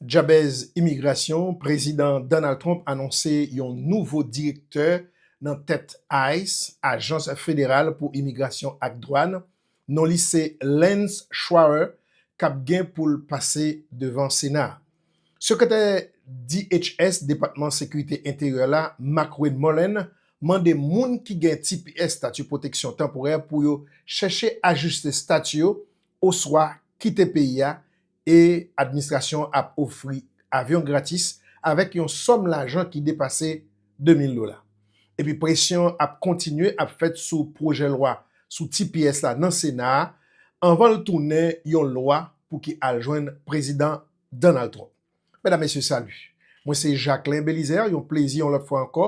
Djabèz imigrasyon, Prezidan Donald Trump anonse yon nouvo direktè nan tèt ice, Ajans Federal pou Imigrasyon ak Dwàn, non li se Lance Schwarer kap gen pou l pase devan Sena a. Sekretè DHS, Depatman Sekirite Enteryè la, McWay Mullen mande moun ki gen tps, Stati Pwoteksyon Tanporè, pou yo chèche ajiste stati yo oswa kite peyi a E administrasyon an ap ofri avyon gratis avèk yon sòm lajan ki depase 2 mil dola. Epi presyon an ap kontinye ap fèt sou pwojè lwa sou tps la nan Sena a anvan l tounen yon lwa pou ki al jwenn Prezidan Donald Trump. Medam Mesye salut! Mwen se Jacquelin Belizaire, yon plezi yon lòt fwa ankò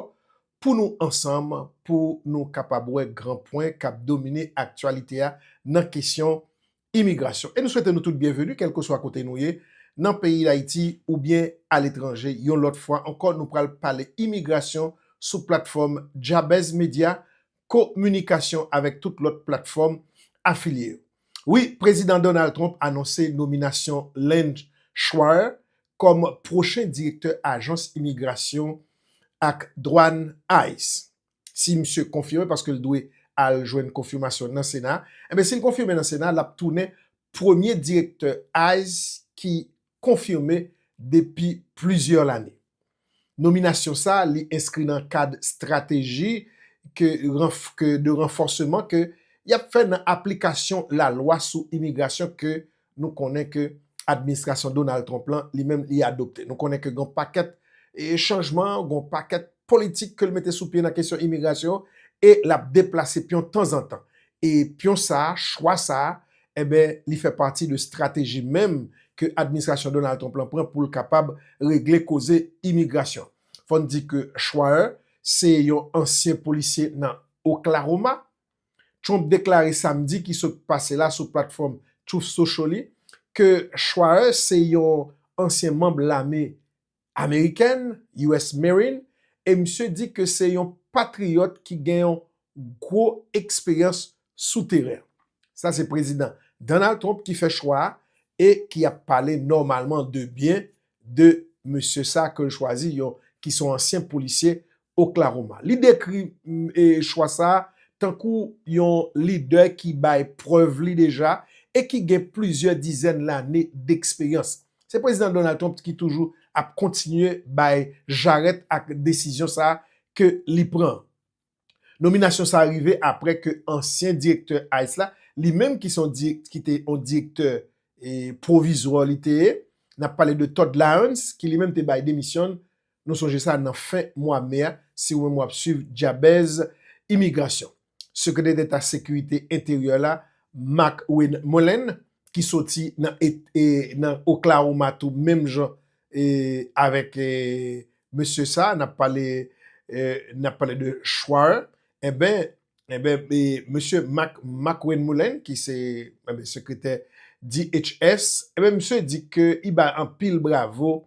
pou nou ansanm pou nou kapab wè gran pwen k ap domine aktyalite a nan kesyon Imigrasyon. E nou swete nou tout byenveni kèlkeswa kote nou ye nan peyi Dayiti oubyen aletranje. Yon lòt fwa ankò nou pral pale imigrasyon sou platfòm Djabèz Medya, kominikasyon avèk tout lòt platfòm afilye yo. Wi, Prezidan Donald Trump anonse nominasyon Lange Schweier kòm pwochen direktè ajans imigrasyon ak dwàn, ice. si misye konfime paske l dwe al jwenn konfimasyon nan sena, enben si l konfime nan sena l ap tounen premye direktè ice ki konfime depi plizyè lane. Nominasyon sa li enskri nan kad strateji ke de ranfòseman ke y ap fè nan aplikasyon lalwa sou imigrasyon ke Nou konnen ke administrasyon Donald Trump lan, li menm li adopte. Nou konnen ke gen yon pakèt chanjman, gen yon pakèt politik ke li mete sou pye nan kesyon imigrasyon e l ap deplase pyon tanzantan. E pyon sa a, chwa sa a, enben li fè pati de strateji menm ke administrasyon Donald Trump lan pran pou l kapab regle koze imigrasyon. Fò n di ke Schweier se yon ansyen polisye nan Oklahoma. Trump deklare Samdi ki sot pase la sou platfòm Truth Social li ke Schweier se yon ansyen manb lame amerikèn, US. Marine, e misye di ke se yon patriyòt ki gen yon gwo eksperyans sou teren. Sa se Prezidan Donald Trump ki fè chwa a e ki ap pale nòmalman de byen de mesye sa ke l chwazi, yon ki se yon ansyen polisye Oklahoma. Li dekri chwa sa a tankou yon lidè ki bay prèv li deja e ki gen plizyè dizèn lane deksperyans. Se Prezidan Donald Trump ki toujou ap kontinye bay jarèt ak desizyon sa a ke li pran an. Nominasyon sa a rive apre ke ansyen direktè ice la, li menm ki te yon direktè pwovizwa li te ye, n ap pale de Todd Lyons, ki li menm te bay demisyon l Nou sonje sa nan fen mwa me a, si ou menm wap swiv dyabèz imigrasyon. Sekretè deta sekirite enteryè la, Mark Wayne Mullen, ki soti nan Oklahoma tou menm jan avèk mesye sa a, nap pale nap pale de Schwar, enben enben mesye Mark Wayne Mullen ki se sekretè DHS, enben misye di ke li bay anpil bravo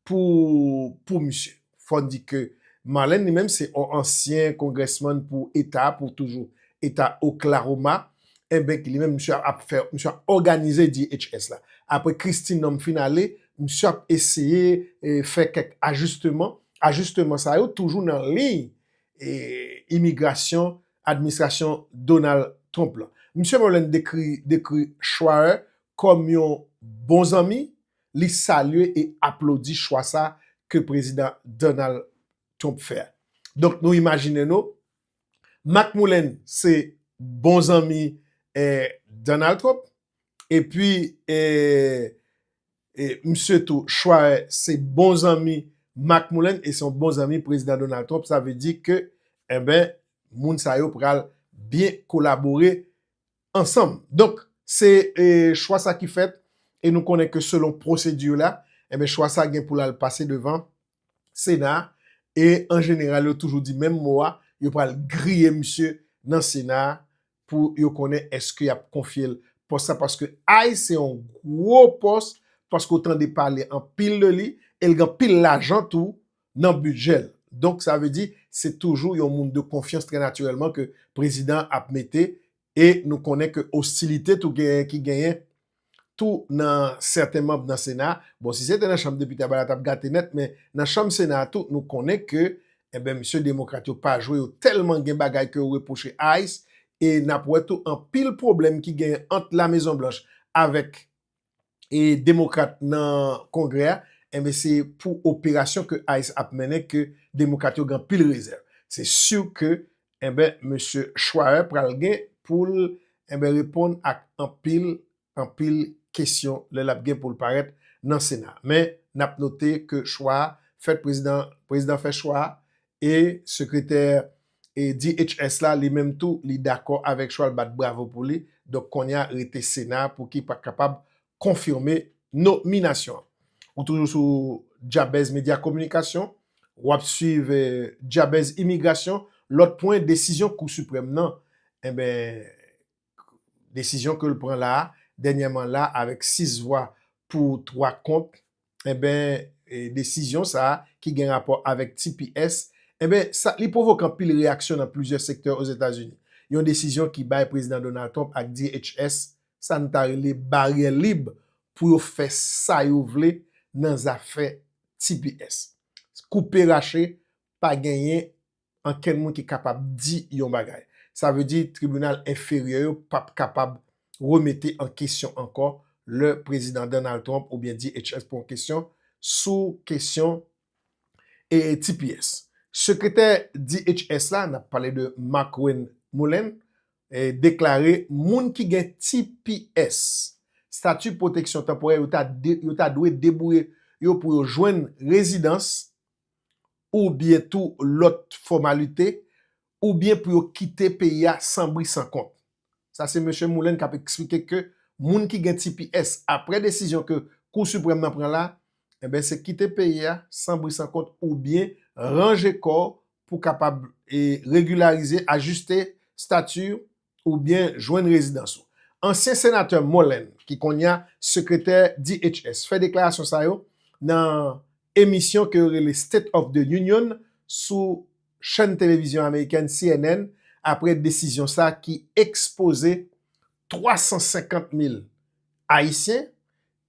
pou pou misye. Fò n di ke Marlène li menm se on ansyen kongrèsmann pou eta a, pou toujou eta Oklahoma, enben ki li menm misye ap fè, misye ap òganize DHS la. Apre Kristi Nonm fin ale, misye ap eseye fè kèk ajisteman, ajisteman sa yo toujou nan liy imigrasyon administrasyon Donald Trump lan. Misye Marlène dekri dekri Schweier kòm yon bon zanmi, li salye e aplodi chwa sa ke Prezidan Donald Trump fè a. Donk nou imajine nou, Mark Mullen se bon zanmi Donald Trump, epi misye tou Schweier se bon zanmi Mark Mullen e se yon bon zanmi Prezidan Donald Trump, sa vle di ke, enben, moun sa yo pral byen kolabore ansanm. Donk, se chwa sa ki fèt e nou konnen ke selon pwosedi la, enben chwa sa gen pou l al pase devan Sena a e an jeneral yo toujou di menm mo a, yo pral griye misye nan Sena a pou yo konnen èske y ap konfye l pòs sa paske ay se yon gwo pòs paske ou tande pale anpil de li e l gen anpil lajan tou nan bidjè l. Donk sa vle di se toujou yon moun de konfyans trè natirèlman ke prezidan an ap mete e nou konnen ke ostilite tou genyen ki genyen tou nan sèten manb nan sena a. Bon si se te nan chanm depite a bagay la t ap gate nèt men nan chanm sena a tou nou konnen ke enben mesye demokrat yo pa jwe yo tèlman gen bagay ke yo repwoche Ice e n ap wè tou anpil pwoblèm ki genyen ant lamezonblanch avèk e demokrat nan kongrè a enben se pou operasyon ke ice ap mennen ke demokrat yo gen anpil rezèv se si ke enben mesye Schweier pral gen poul enben reponn ak anpil anpil kesyon lè lap gen poul parèt nan sena men nap note ke chwa fèt prezidan prezidan fè chwa E sekretè DHS la li menm tou li dakò avèk chwal bat bravo pou li, donk konnya rete sena pou ki pa kapab konfime nominasyon an. Ou toujou sou Djabèz Medya Kominikasyon, wap swiv Djabèz Imigrasyon, lòt pwen desizyon kou siprèm nan, enben desizyon ke l pran la a, dènyèman la a, avèk 6 vwa pou, 3 kont, enben, desizyon sa a, ki gen rapò avèk tps, enben, sa, li pwovoke anpil reyaksyon nan plizyè sektè Ozetazini. Yon desizyon ki bay Prezidan Donald Trump ak DHS sa n ta rele baryè lib pou yo fè sa yo vle nan zafè tps. Koupe rache, pa genyen ankenn moun ki kapab di yon bagay. Sa vle di tribinal enferyè yo p ap kapab remete an kesyon ankò lè Prezidan Donald Trump oubyen DHS pran yon kesyon sou kesyon tps. Sekretè DHS la, n ap pale de Markwayne Mullin, deklare moun ki gen tps, Stati Pwoteksyon Tanporè, yo ta dwe debouye yo pou yo jwenn rezidans oubyen tou lòt fòmalite, oubyen pou yo kite peyi a san bri san kont. Sa se Mesye Mullin k ap eksplike ke moun ki gen tps apre desizyon ke Kou Siprèm nan pran la, enben se kite peyi a san bri san kont oubyen ranje kò w pou kapab regilarize, ajiste stati w oubyen jwenn rezidans ou. Ansyen Senatè Mullen, ki kounye a Sekretè DHS, fè deklarasyon sa yo nan emisyon ke yo rele State of the Union sou chèn televizyon amerikèn cnn apre desizyon sa ki ekspoze 350 mil Ayisyen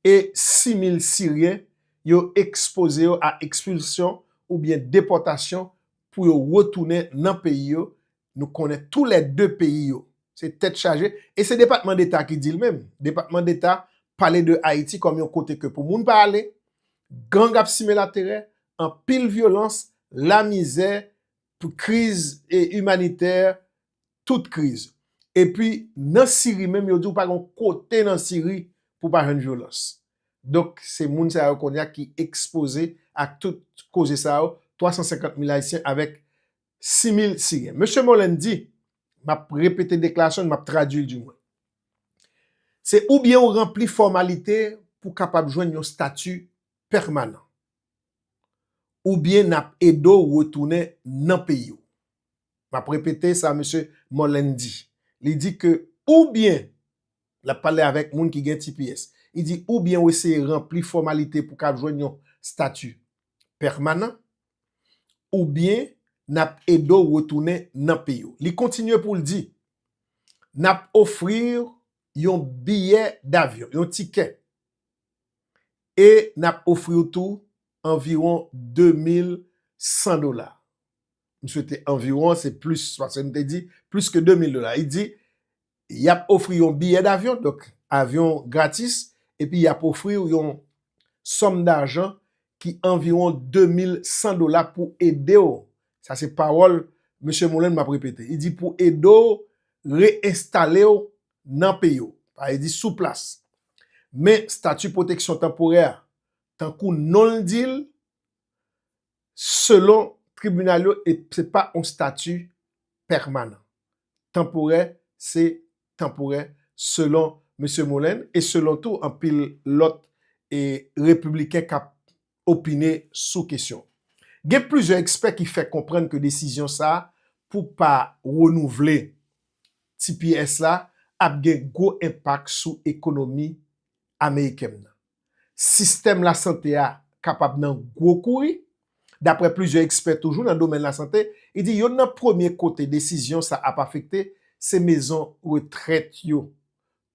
e 6 mil Siryen yo ekspoze yo a ekspilsyon oubyen depòtasyon pou yo retounen nan peyi yo Nou konnen tou lè 2 peyi yo. Se tèt chaje, e se depatman deta ki dil menm. Depatman deta pale de Ayiti kòm yon kote ke pou moun pa ale, gang ap simen laterè, anpil vyolans, lamizè, pou kriz e imanitè, tout kriz. E pi nan Siri menm yo di ou pa gon kote nan Siri pou pa jwenn vyolans. Donk se moun sa yo kounye a ki ekspoze ak tout koze sa yo, 350 mil Ayisyen avèk 6000 siren. Mesye Mollen di, m ap repete deklarasyon li, m ap tradui l di mwen, Se oubyen ou ranpli fòmalite pou kapab jwenn yon stati pèmanan, oubyen n ap ede w retounen nan peyi w. M ap repete sa mesye Mollen di. Li di ke oubyen, l ap pale avèk moun ki gen tps, li di oubyen ou eseye ranpli fòmalite pou ka jwenn yon stati pèmanan oubyen n ap ede w retounen nan peyi w. Li kontinye pou l di, N ap ofri w yon biyè davyon, yon tikè, e n ap ofri w tou anviwon 2100 dola. M swete anviwon, se plis pase m te di, plis ke 2000 dola. Li di, yap ofri yon biyè davyon, donk avyon gratis, epi yap ofri w yon sòm dajan ki anviwon 2100 dola pou ede w, sa se pawòl Mesye Mullen map repete, li di pou ede w re-enstale w nan peyi w, sa vle di sou plas. Men stati pwoteksyon tanporè a, tankou non l di l, Selon tribinal yo e se pa yon stati pèmanan. Tanporè se tanporè selon Mesye Mollen e selon tou anpil lòt e repibliken k ap opine sou kesyon. Gen plizyè ekspè ki fè konprann ke desizyon sa a pou pa renouvle tps la ap gen gwo enpak sou ekonomi amerikèm nan. sistèm lasante a kapab nan gwo kouri. Daprè plizyè ekspè toujou nan domèn lasante, li di yonn nan premye kote desizyon sa ap afekte se mezon retrèt yo,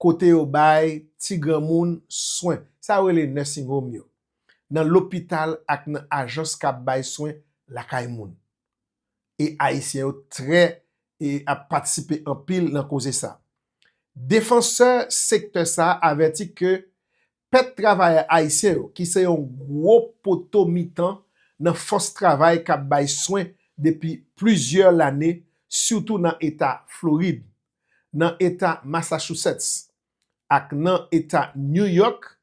kote yo bay ti granmoun swen, sa yo rele nursing home yo, nan lopital ak nan ajans k ap bay swen lakay moun. e Ayisyen yo trè e ap patisipe anpil nan koze sa. Defansè sektè sa avèti ke pèt travayè Ayisyen yo ki se yon gwo poto mitan nan fòs travay k ap bay swen depi plizyè lane sitou nan eta Florid, nan eta Massachusetts ak nan eta New York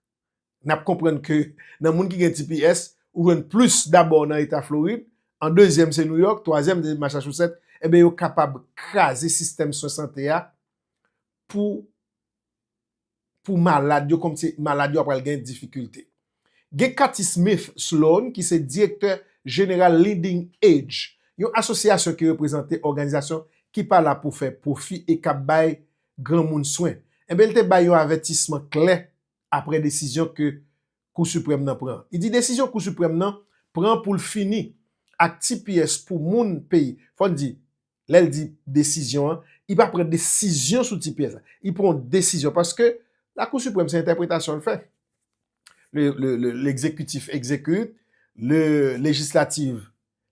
N ap konprann ke nan moun ki gen tps, ou jwenn plis dabò nan eta Florid, an dezyèm se Nouyòk, twazyèm se Masachousèt, enben yo kapab kraze sistèm swen sante a pou pou malad yo kòmsi malad yo ap pral gen difikilte. Gen Kathy Smith Sloan ki se direktè jeneral Leading Edge, yon asosyasyon ki reprezante òganizasyon ki pa la pou fè pwofi e k ap bay granmoun swen, enben li te bay yon avètisman klè apre desizyon ke Kou Siprèm nan pran. Li di desizyon Kou Siprèm nan pran pou l fini ak tps pou moun peyi. Fò n di, lè l di desizyon an, li pa pran desizyon sou tps la. Li pran yon desizyon paske Lakou Siprèm se entèpretasyon l fè. Le Ekzekitif ekzekite, le Lejislatif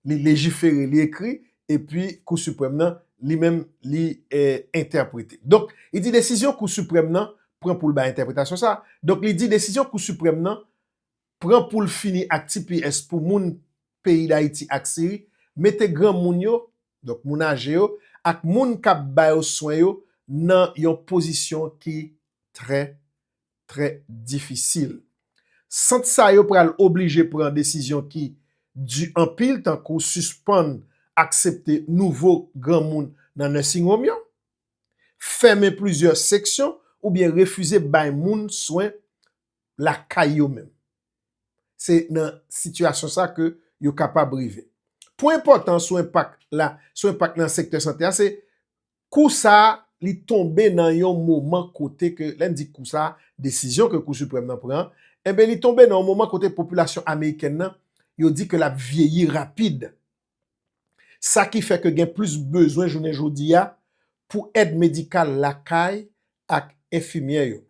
li lejifere, li ekri, epi Kou Siprèm nan, li menm, li entèprete. Donk, li di desizyon Kou Siprèm nan pran pou l bay entèpretasyon sa a. Donk, li di desizyon Kou Siprèm nan pran pou l fini ak tps pou moun peyi Dayiti ak Siri, mete granmoun yo, donk moun aje yo, ak moun k ap ba yo swen yo nan yon pozisyon ki trè trè difisil. Sant sa yo pral oblije pran desizyon ki di anpil tankou sispann aksepte nouvo granmoun nan nursing home yo, fèmen plizyè seksyon oubyen refize bay moun swen lakay yo menm. Se nan sitiyasyon sa ke yo kapab rive. Pwen enpòtan sou enpak la, sou enpak nan sektè sante a se Kou sa li tonbe nan yon moman kote ke, lè n di kou sa, desizyon ke Kou Siprèm nan pran, enben li tonbe nan yon moman kote popilasyon amerikèn nan, yo di ke l ap vyeyi rapid. Sa ki fè ke gen plis bezwen jounen jodi a pou èd medikal lakay ak enfimyè yo.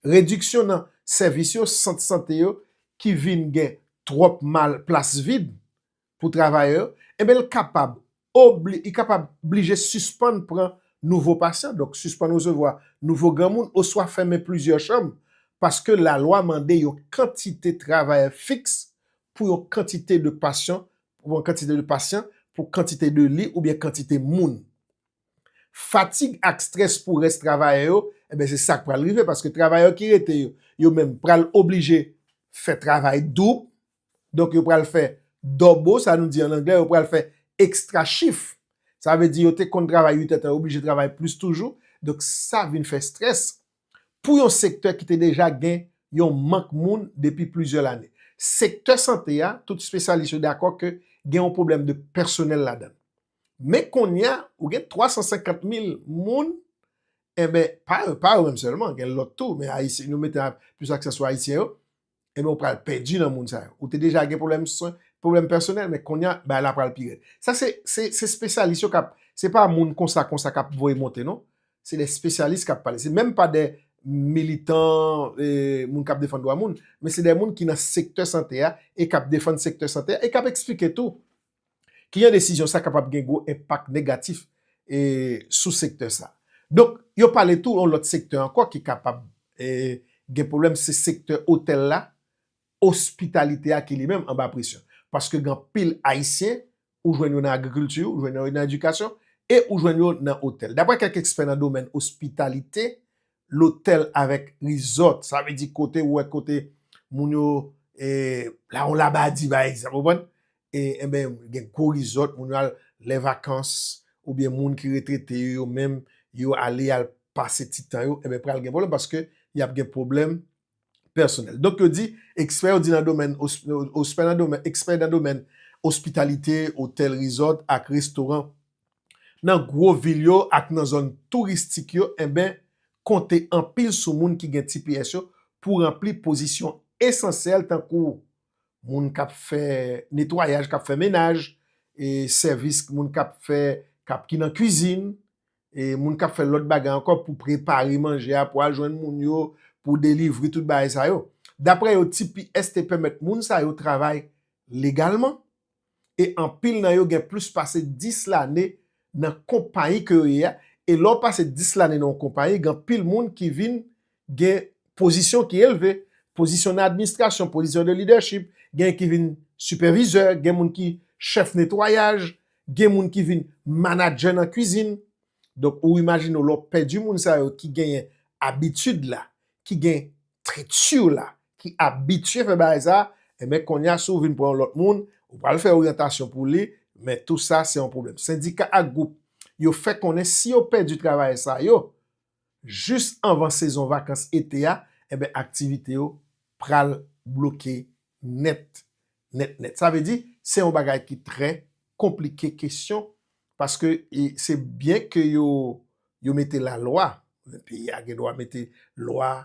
Rediksyon nan sèvis yo, sant sante yo ki vin gen twòp mal, plas vid, pou travayè yo, enben l kapab obli, li kapab blije sispann pran nouvo pasyan, donk sispann resevwa nouvo granmoun oswa fèmen plizyè chanm paske lalwa mande yon kantite travayè fiks pou yon kantite de pasyon pou yon kantite de pasyan pou kantite de li oubyen kantite moun. Fatig ak strès pou rès travayè yo, enben se sa k pral rive paske travayè ki rete yo, yo menm pral oblije fè travay doub, Donk yo pral fè dòbo, sa nou di an anglè, yo pral fè ekstra chif. Sa vle di yo te konn travay 8 èdtan, yo oblije travay plis toujou. Donk sa vin fè strès pou yon sektè ki te deja gen yon mank moun depi plizyè lane. Sektè sante a, tout spesyalis yo dakò ke gen yon pwoblèm de pèsonèl ladan l. Men kounye a, ou gen 350 mil moun, enben, pa yo menm sèlman, gen lòt tou, men nou mete plis aksan sou Ayisyen yo, e ben ou pral pèdi nan moun sa yo. Ou te deja gen pwoblèm swen, pwoblèm pèsonèl, men kounye a, bagay la pral pi rèd. Sa se, se, se spesyalis yo k ap, se pa moun konsa konsa k ap voye monte non. Se de spesyalis k ap pale. Se menm pa de militan, e, moun k ap defann dwa moun, men se de moun ki nan sektè sante a, e k ap defann sektè sante a, e k ap eksplike tou. Ki jan desizyon sa kapab gen gwo enpak negatif sou sektè sa. Donk, yo pale tou yon lòt sektè ankò ki kapab gen pwoblèm, se sektè otèl la, ospitalite a ki li menm anba presyon. Paske gen anpil Ayisyen, ou jwenn yo nan agrikilti, ou jwenn yo nan edikasyon, e ou jwenn yo nan otèl. Daprè kèk ekspè nan domèn ospitalite, lotèl avèk rizòt, sa vle di kote ou wè kote moun yo, la yon labadi pa egzanp, ou konprann? e enben gen gwo rizòt moun yo al lè vakans oubyen moun ki retrete yo yo menm yo ale al pase ti tan yo enben pral gen pwoblèm paske y ap gen pwoblèm pèsonèl. Donk yo di, ekspè yo di nan domèn ospè nan domèn ekspè nan domèn ospitalite, otèl rizòt ak restoran nan gwo vil yo ak nan zòn touristik yo enben konte anpil sou moun ki gen tps yo pou ranpli pozisyon esansyèl tankou moun k ap fè netwayaj, k ap fè menaj, e sèvis moun k ap fè, k ap ki nan kwizin, e moun k ap fè lòt bagay ankò pou prepare manje a pou al jwenn moun yo, pou delivri tout bagay sa yo. Daprè yo, tps te pèmèt moun sa yo travay legalman, e anpil nan yo gen plis pase 10 lane nan konpayi ke yo ye a, e lè w pase 10 lane nan yon konpayi gen anpil moun ki vin gen pozisyon ki elve, pozisyon nan administrasyon, pozisyon de lidèchip, gen ki vin sipèvizè, gen moun ki chèf netwayaj, gen moun ki vin manadjè nan kwizin. Donk ou imajine w lè w pèdi moun sa yo ki genyen abitid la, ki gen trèt siw la ki abitye fè bagay sa enben konnya si w vin pran yon lòt moun ou pral fè oryantasyon pou li men tou sa se yon pwoblèm sendika ak gwoup yo fè konnen si yo pèdi travayè sa yo jis anvan sezon vakans ete a enben aktivite yo pral bloke nèt nèt nèt. Sa vle di, se yon bagay ki trè konplike kesyon paske se byen ke yo yo mete lalwa, peyi a gen dwa mete lwa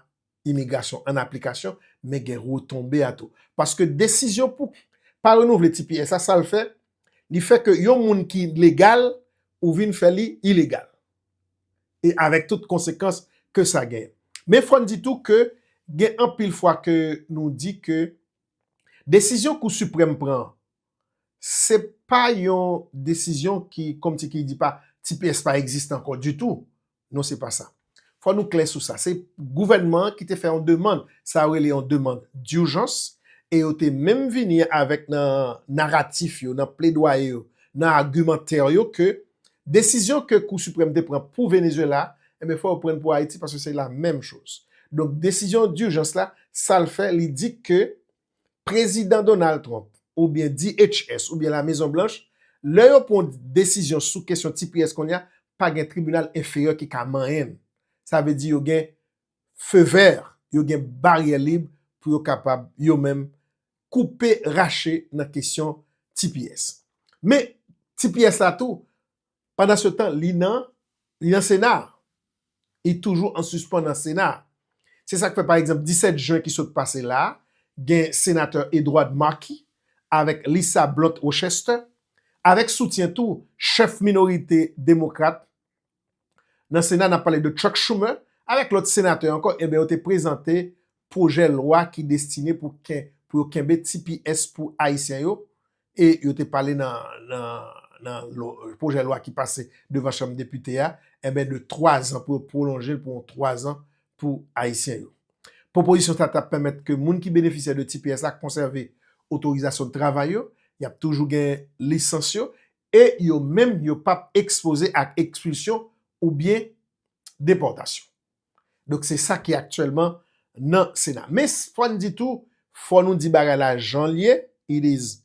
imigrasyon an aplikasyon men gen retonbe a tou. Paske desizyon pou pa renouvle tps a sa l fè, li fè ke yon moun ki legal ou vin fè li ilegal. e avèk tout konsekans ke sa genyen. Men fò n di tou ke gen anpil fwa ke nou di ke desizyon Kou Siprèm pran an, se pa yon desizyon ki kòmsikidi pa tps pa egziste ankò ditou. Non se pa sa. Fò nou klè sou sa. Se gouvènman an ki te fè yon demand, sa yo rele yon demand dijans e yo te menm vini avèk nan naratif yo, nan pledwaye yo, nan agimantè yo ke Desizyon ke kou siprèm te pran pou Venezuela, enben fò yo prann pou Ayiti paske se la menm choz. Donk desizyon durjans la, sal fè li di ke Prezidan Donald Trump oubyen DHS oubyen la Mezon Blanch, lè yo pran yon desizyon sou kesyon tps konnya pa gen tribinal enferyè ki ka manyen l. Sa vle di yo gen feu vert, yo gen baryè lib pou yo kapab yo menm koupe rache nan kesyon tps. Men, tps la tou, pandan se tan li nan, li nan sena a. Li toujou an sispan nan sena a. Se sa k fè pa egzanp 17 jen ki sot pase la a, gen senatè Edward Markey avèk Lisa Blunt Rochester, avèk soutyen tou chèf minorite demokrat nan sena nap pale de Chuck Schumer avèk lòt senatè ankò enben yo te prezante pwojè lwa ki destine pou yo kenbe tps pou ayisyen yo e yo te pale nan pwojè lwa ki pase devan chanm depite a enben de 3 zan pou yo pwolonjel pou yon 3 zan pou ayisyen yo. Pwopozisyon sa ta pèmèt ke moun ki benefisyè de tps la konsève otorizasyon travay yo, yap toujou gen lisans yo e yo menm yo p ap ekspoze ak ekspilsyon oubyen depòtasyon. Donk se sa ki aktyèlman nan Sena. Men fò n di tou, fò nou di bagay la jan l ye, it is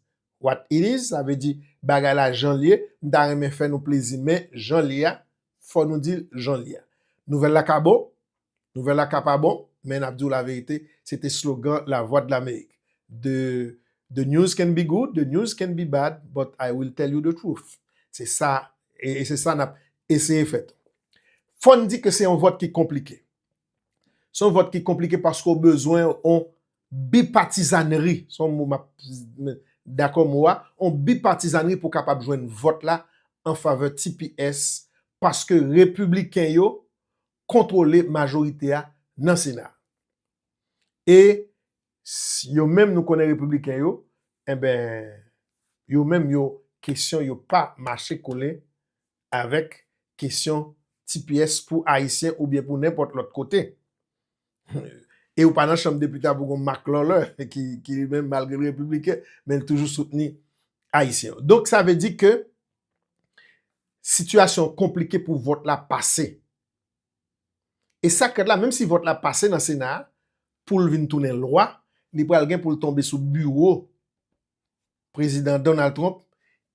what it is, sa vle di bagay la jan l ye, m ta renmen fè nou plezi men jan l ye a, fò nou di l jan l ye a. Nouvèl la ka bon, Nouvèl la ka pa bon, men nap diw laverite, se te slogan Lavwadlamerik. The The news can be good, the news can be bad, but I will tell you the truth. Se sa, e se sa nap eseye fè tou. Fòn di ke se yon vòt ki konplike. Se yon vòt ki konplike paske ou bezwen yon bipatizanri, se yon mo map, dakò mo a, yon bipatizanri pou kapab jwenn vòt la anfavè tps paske repibliken yo kontwole majorite a nan sena a. E yo menm nou konnen repibliken yo, enben yo menm yo kesyon yo pa mache kole avèk kesyon tps pou ayisyen oubyen pou nenpòt lòt kote. E ou pa nan chanm depite pou gon Marc Lawler ki li menm malgre l repibliken men l toujou soutni Ayisyen yo. Donk sa vle di ke sitiyasyon an konplike pou vòt la pase. E sa k ret la menm si vòt la pase nan sena a pou l vin tounen lwa li pral gen pou l tonbe sou biwo prezidan Donald Trump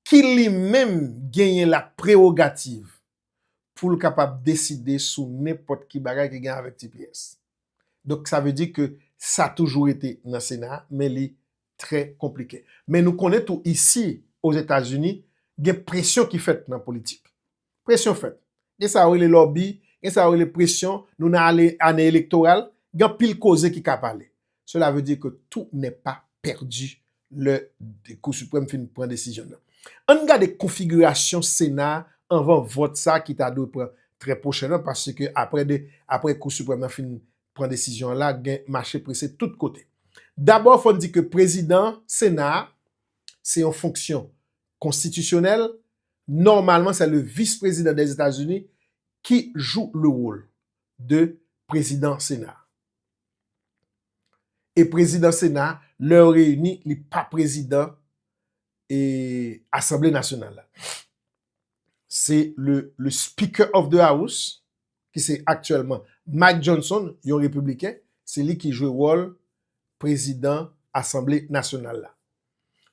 ki li menm genyen la prewogativ pou l kapab deside sou nenpòt ki bagay ki gen avèk tps. Donk sa vle di ke sa toujou rete nan sena a men li trè konplike. Men nou konnen tou isi ozetazini gen presyon ki fèt nan politik. Presyon fèt. Gen sa yo rele lòbi, gen sa yo rele presyon, nou nan ane elektoral, gen anpil koze ki ka pale. Sela vle di ke tout ne pa pèdi lè Kou Siprèm fin pran desizyon nan. Ann gade konfigirasyon Sena a anvan vòt sa ki ta dwe pran trè pwochènman paske apre de, apre Kou Siprèm nan fin pran desizyon an la gen mache prese tout kote. Dabò fò n di ke prezidan Sena a se yon fonksyon konstitisyonèl, nòmalman sè le vis prezidan dèzetazini ki jou le wol de prezidan Sena a. E prezidan sena lè yo reyini li pa prezidan e asanble nasyonal la. Se le speaker of the house ki se aktyèlman Mike Johnson yon repibliken se li ki jwe wòl prezidan asanble nasyonal la.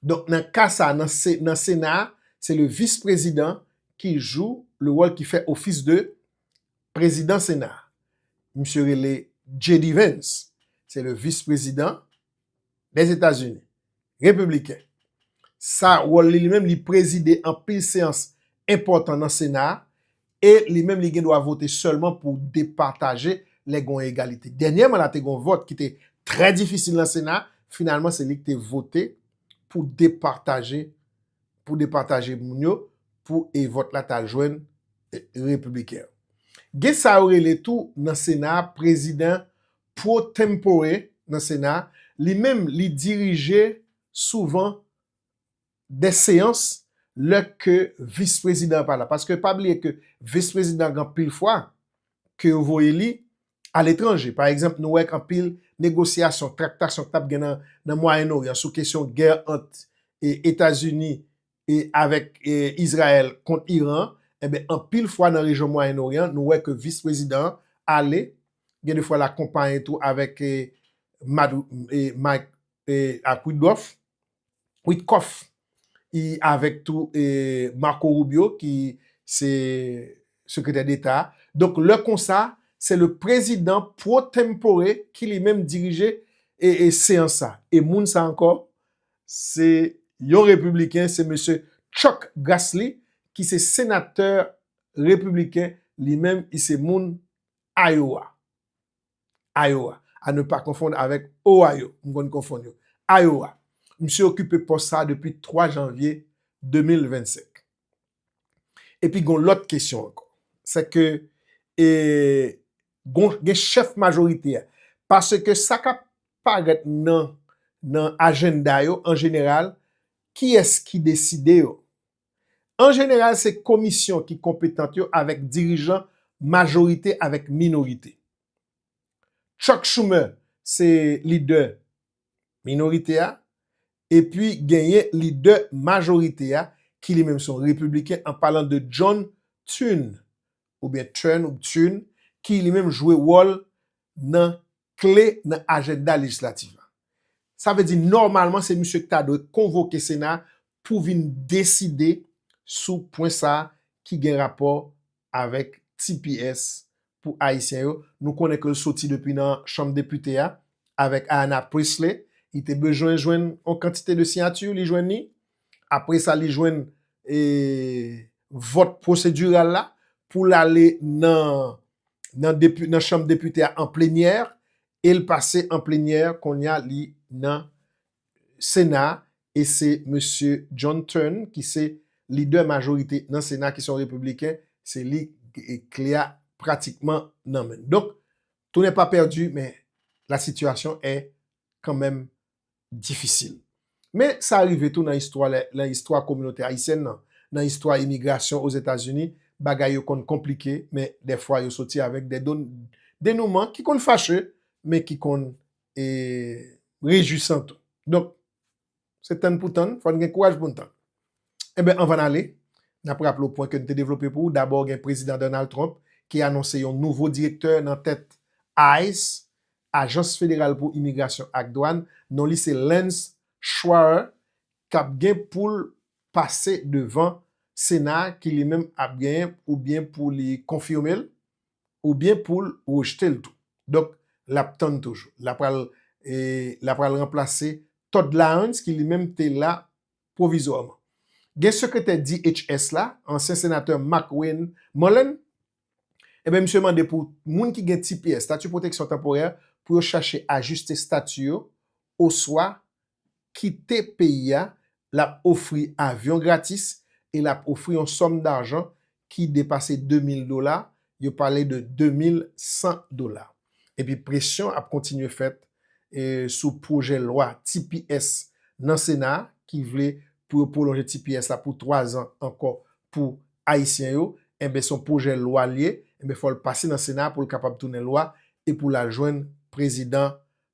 Donk nan ka sa a, nan Sena a, se le Vis Prezidan ki jou le wòl ki fè ofis de Prezidan Sena a. Misye rele JD Vance. Se le Vis Prezidan dè Etazini. Repibliken. Sa wòl li li menm, li prezide anpil seyans enpòtan nan Sena a. E li menm li gen dwa vote sèlman pou depataje lè gon egalite. Dènyèman la te gon vòt ki te trè difisil nan sena, finalman se li ki te vote pou depataje pou depataje moun yo pou e vòt la ta jwenn repibliken an. Gen sa yo rele tou nan sena a prezidan pro tempore nan sena a, li menm li dirije souvan des seyans lè ke vis prezidan pa la paske pa bliye ke vis prezidan gen anpil fwa ke yo voye li a letranje pa egzanp nou wè gen anpil negosyasyon traktasyon k tap gen nan mwayen oryan sou kesyon gè ant etazini e avèk izrayèl kont iran enben anpil fwa nan rejyon mwayen oryan nou wè ke vis prezidan an ale gen de fwa l akonpaye tou avèk mike ak widgòf Witkoff e avèk tou Marco Rubio ki se Sekretè Deta a. Donk lè konsa, se le prezidan pro tempore ki li menm dirije seyans sa. E moun sa ankò, se yon repibliken, se mesye Chuck Grassley ki se senatè repibliken li menm, li se moun Iowa. Iowa, a ne pa konfonn avèk Ohio, m konn konfonn yo, Iowa. Msye okipe pòs sa a depi 3 janvye 2025. Epi gon lòt kesyon ankò, sè ke e gon gen chèf majorite a, paske sa k ap parèt nan nan ajennda yo an jeneral, kiyès ki deside yo? An jeneral se komisyon ki konpetant yo avèk dirijan majorite avèk minorite. Chuck Schumer se lidè minorite a, epi genyen lidè majorite a ki li menm se yon repibliken an palan de John Thune oubyen Turn ou Thune ki li menm jwe wòl nan kle nan ajenda lejislatif la. Sa vle di nòmalman se misye ki ta dwe konvoke sena pou vin deside sou pwen sa ki gen rapò avèk tps pou ayisyen yo. Nou konnen ke l soti depi nan chanm depite a avèk Ayanna Pressley. Li te bezwen jwenn yon kantite de siyati, li jwenn li. Apre sa li jwenn vòt pwosediral la pou l ale nan chanm depite a an plenyè e l pase an plenyè kounye a li nan sena e se mesye John Thune ki se lidè majorite nan sena ki se yon repibliken se li kle a pratikman nan men l. Donk tou nè pa pèdi men la sitiyasyon è kanmenm difisil. Men sa rive tou nan istwa lè nan istwa kominote ayisyèn nan, nan istwa imigrasyon Ozetazini, bagay yo konn konplike men dèfwa yo soti avèk dè don denouman ki konn fache men ki konn e rejwisan tou. Donk se tann pou tann, fò n gen kouraj pou n tann. Enben, anvan n ale, n ap raple w pwen ke n te devlope pou ou, dabò gen Prezidan Donald Trump ki anonse yon nouvo direktè nan tèt ice, Ajans Federal pou Imigrasyon ak Dwàn, non li se Lance Schwaarer k ap gen pou l pase devan Sena a ki li menm ap genyen oubyen pou li konfime l oubyen pou l rejte l tou. Donk, l ap tann toujou. L apral, l apral ranplase Todd Lyons ki li menm te la pwovizwaman. Gen sekretè DHS la, ansyen senatè McWayne Mullen, enben misye mande pou moun ki gen tps, Stati Pwoteksyon Tanporè, pou yo chache ajiste stati yo oswa kite peyi a, l ap ofri avyon gratis e l ap ofri yon sòm dajan ki depase 2 mil dola, yo pale de 2 mil 100 dola. Epi presyon ap kontinye fèt sou pwojè lwa tps nan sena a ki vle pou yo pwolonje tps la pou 3 zan ankò pou ayisyen yo, enben son pwojè lwa l ye, enben fò l pase nan sena a pou l kapab tounen lwa e pou l al jwenn prezidan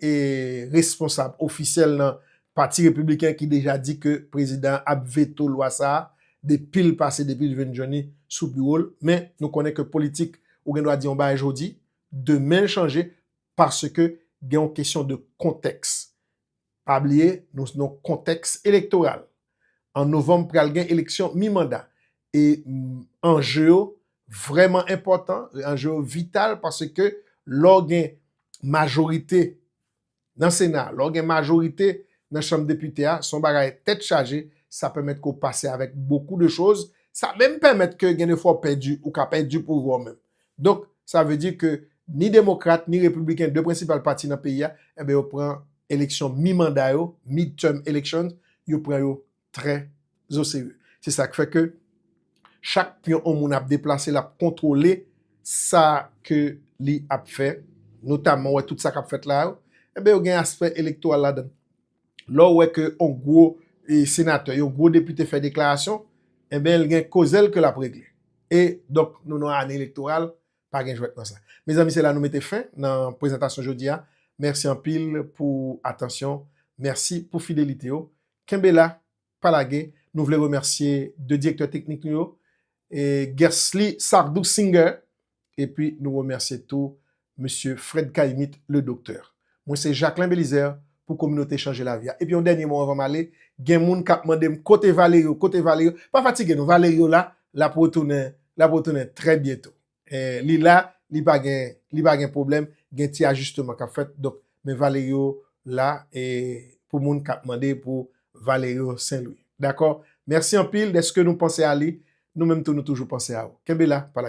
e responsab ofisyèl nan pati repibliken ki deja di ke prezidan an ap veto lwa sa a depi l pase depi l jwenn Johnny sou biwo l, men nou konnen ke politik ou gen dwa di yon bagay jodi, demen l chanje paske gen yon kesyon de kontèks. Pa bliye nou nan yon kontèks elektoral. An novanm pral gen eleksyon mi manda E anje yo vrèman enpòtan, anje yo vital paske lè w gen majorite nan sena, lè w gen majorite nan chanm depite a, se yon bagay tèt chaje, sa pèmèt ke w pase avèk bokou de choz, sa menm pèmèt ke gen de fwa w pèdi, ou ka pèdi pouvwa w menm. Donk, sa vle di ke ni demokrat, ni repibliken, de prensipal pati nan peyi a, enben yo pran eleksyon mi-manda yo, mid-term elections, yo pran yo trè oserye. Se sa k fè ke chak pyon yon moun ap deplase, l ap kontwole sa ke li ap fè, notamman ou wè tout sa k ap fèt la yo, enben yo gen aspè elektoral ladan l. Lè w wè ke yon gwo senatè, yon gwo depite fè deklarasyon, enben l gen koze l ke l ap regle. E, donk, nou nan ane elektoral, pa gen jwèt nan sa. Mezanmi, se la nou mete fen nan prezantasyon jodi a. Mèsi anpil pou atansyon, mèsi pou fidelite w. Kenbe la, pa lage, nou vle remèsye 2 direktè teknik nou yo, Guercely Sardou Singer, epi nou remèsye tou Mesye Fred Caïmit Le Docteur. Mwen se Jacquelin Belizaire pou Kominote Chanje Lavi a. Epi yon dènye mo anvan m ale, gen moun k ap mande m kote Valerio, kote Valerio? Pa fatige nou, Valerio la, l ap retounen, l ap retounen trè byento. Li la li pa gen li pa gen pwoblèm gen ti ajisteman kap fèt donk men Valerio la pou moun kap mande pou Valerio Saint Louis dakò mèsi anpil dèske nou panse a li nou menm tou nou toujou panse a ou kenbe la pa lage.